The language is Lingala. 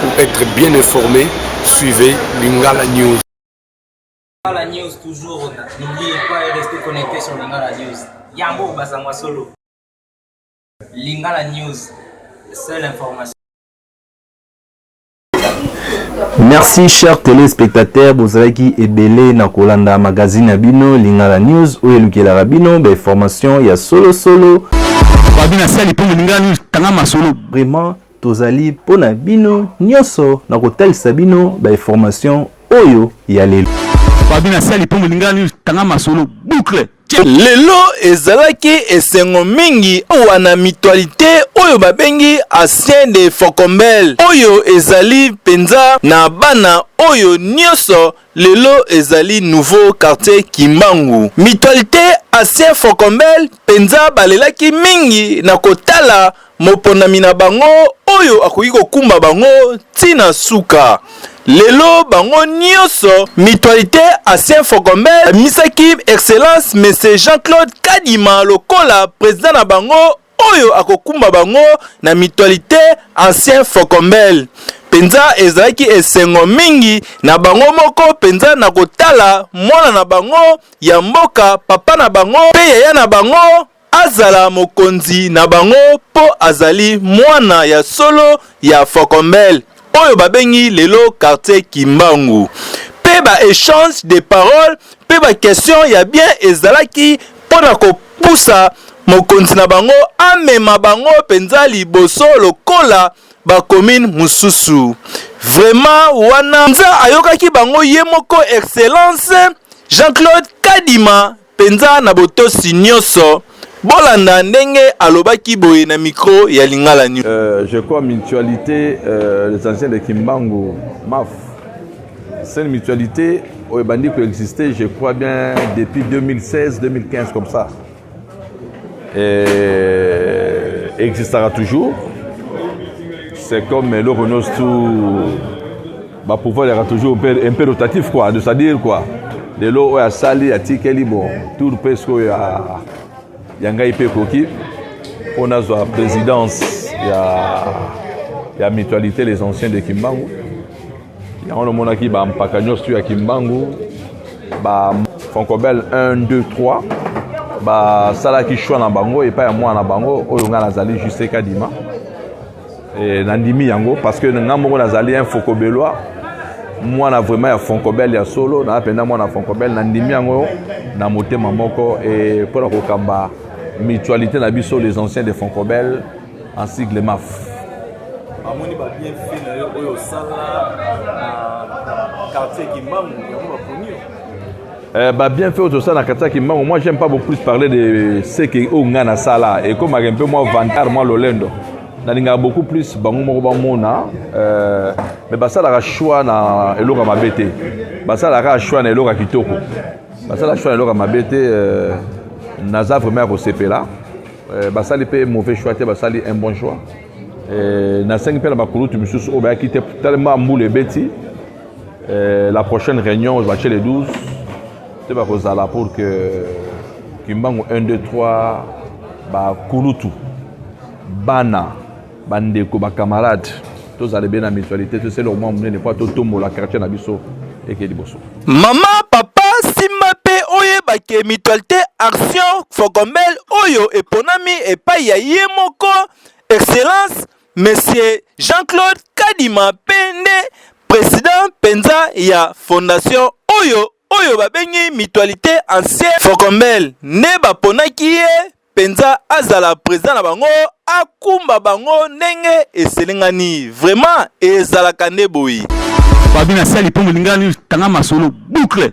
Pour etre bien informe, suivez Lingala News. Lingala News toujours, n'oubliez pas et restez connectés sur Lingala News. Yango Bazangwa Solo. Lingala News, seule information. merci cher téléspectateur bozalaki ebele na kolanda magazine ya bino lingala news oyo elukelaka bino bainformation ya solosolo babi nasali mpo lingala news tanga masolo vraiment Tozali mpo na bino nionso na kotalisa bino ba informations oyo ya lelo. Fabi na sali po moninga nini tanga masolo boucle. Lelo ezalaki esengo mingi awa na mutualite oyo babengi Anciens de Fokombel oyo ezali penza na bana oyo nionso Lelo ezali nouveau quartier Kimbangu. Mutualite Ancien Fokombel penza balelaki mingi na kotala moponami na bango oyo akoki kokumba bango ti na suka. Lelo bango nioso Mutualite Ancien Fokombel babimisaki Excellence Monsieur Jean-Claude Kadima lokola President na bango. oyo akokumba bango na mutualite ancien fokombel penza ezalaki esengo mingi na bango moko penza na kotala mwana na bango ya mboka papa na bango pe yaya na bango azala mokonzi na bango po azali mwana ya solo ya fokombel oyo babengi lelo quartier Kimbangu mpe ba echanges de paroles mpe ba questions ya bien ezalaki mpo na kopusa mokonzi na bango amema bango mpenza liboso lokola ba communes mosusu. Vraiment wana. Mpenza ayokaki bango ye moko Excellence Jean-Claude Kadima mpenza na botosi nyonso. Bolanda ndenge alobaki boye na micro ya Lingala News. Euh, je crois mutualité euh, les anciens de Kimbangu MAF. C'est une mutualité oyo ebandi ko exister je crois bien depuis 2016 2015 comme ça. Et existera toujours. C'est comme l'Oronos tout Ba pouvoir yaka toujours un peu rotatif quoi, de c'est-à-dire quoi. Lelo oyo asali atikeli bon tour pe sikoyo ya ya ngai pe ekoki mpo nazwa présidence ya ya mutualité les anciens de Kimbangu yango namonaki bampaka nyonso ya Kimbangu ba Foncobel 1 2 3 basalaki choix na bango epai ya mwana na bango oyo ngai nazali juste kadima Eh, nandimi yango parce que nga moko nazali un fokobelois mwana vraiment ya fonkobel ya solo naa mpenza mwana ya fonkobel nandimi yango na motema moko e mpo na kokamba mutualité na biso les anciens de fonkobel en sigle maf bamoni babienfait na yo oyo osala na quartier kimbangu yango baponi yo Euh, ba bienfait oyo tosala na katia kimbangu moi j'aime pas beaucoup plus parler de ce que oyo ngai nasala ekomaka mpe mwa vantard mwa lolendo nalingaka beaucoup plus bango moko bamona euh, mais basalaka choix na eloko ya mabe te basalaka choix na eloko ya kitoko basala choix na eloko ya mabe te euh, naza vraiment ya kosepela basali mpe mauvais choix te basali un bon choix Eh, nasengi mpe na bakulutu misusu oyo bayaki te talemba mbula ebeti eh, la prochaine réunion batie le 12 te bakozala pour que kimbangu 1 2 3 bakulutu bana bandeko bacamarade tozala ebe na mutualité toseli omwa monene mpo totombola quartier na biso eke liboso mama papa nsima mpe oyeba ke mutualité action fogomel oyo eponami epai ya ye moko excellence monsieur Jean-Claude Kadima Pende président penza ya fondation oyo oyo babengi mutualité ancien Fokombel nde baponaki ye penza azala président na bango akumba bango ndenge eselengani vraiment ezalaka nde boye Babi na sali po molingani tanga masolo boucle